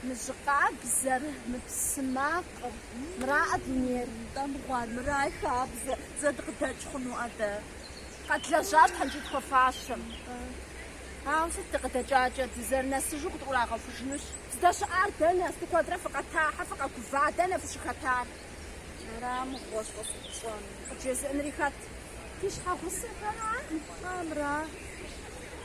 Мы жьы къабзэр, мы псы макъыр, мыраӏэ дунейр, нтӏэ, мыгъуар, мыра и хабзэр, зэ дыкъыдэкӏ хъуну атӏэ? Къэдлэжьащ тхьэмкӏи тхуэфащэм. Ауэ сыт дыкъыдэкӏакӏэ, дызэрынэсыжу къытӏурагъэхужынущ. Здэщыӏар дэнэ, сты куэдрэ фыкъэтахьэ, фыкъэгува, дэнэ фыщыхэтар? Мыра мыгъуэщ къыфыпщӏэнур, къыджезыӏэнри хэт? Ди щхьэгъусэхэра, мыхъуамра?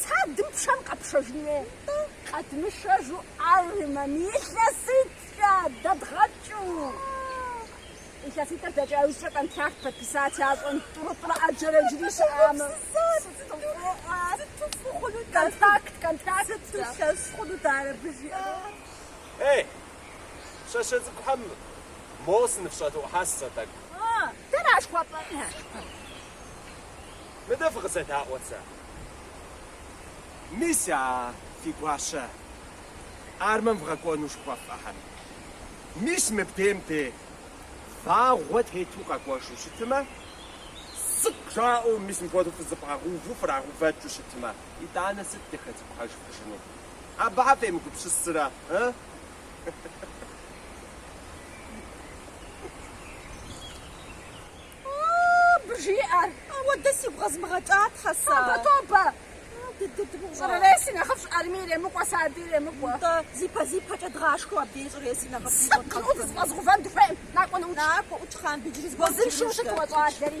Садым пшэм къэпшэжын хуей-тӏэ? Къэдмышэжу армэм илъэситӏкӏэ дэдгъэкӏыу. Илъэситӏыр дэкӏа иужькӏэ контракт подписать ящӏэн тӏурытӏрэ ӏэджэрэ иджыри щыӏамэ. Контракт, контракт. Сыту лъэщ хъуну дара абы жиӏэрэ? Эй, пщащэ цӏыкӏухэм, моуэ сыныфщӏэдэӏухьащ сэ тӏэкӏу. Дэра жыхуэпӏэр? Мыдэ фыкъызэдаӏуэ сэ. Мис а фи гуащэ армэм вгъэкӏуэну жыхуэфӏэхэм. Мис мыбдейм де вагъуэ тету къэкӏуэжу щытмэ, цӏыкъ жаӏэу мис мыпхуэдэу фызэбгъэгъууву фрагъэувэкӏыу щытмэ, итӏанэ сыт дыхэзыпӏыхьэжыфыжыну? Абыхьэ фемыгупсысрэ, ы? Абы жиӏэр, уэ дэ сигу къэзмыгъэкӏа, тхьэ, сэ. Тобэ, тобэ! Щӏыреси нэхъыфӏщ арми иремыкӏуэ, сади иремыкӏуэ. Нтӏэ, зи пэ зи пэкӏэ дгъашхэу абдей щӏыреси нэхъыфӏ зи щӏэт къэзгъэзэн. Сыт зыфӏэзгъувэн дыхуейм? Накӏуэ ноутщ. Накӏуэ ӏутщ, Хъанбий, иджыри зыгуэр къытщӏэжынущ. Узыншэу щыт уэ щӏалэри.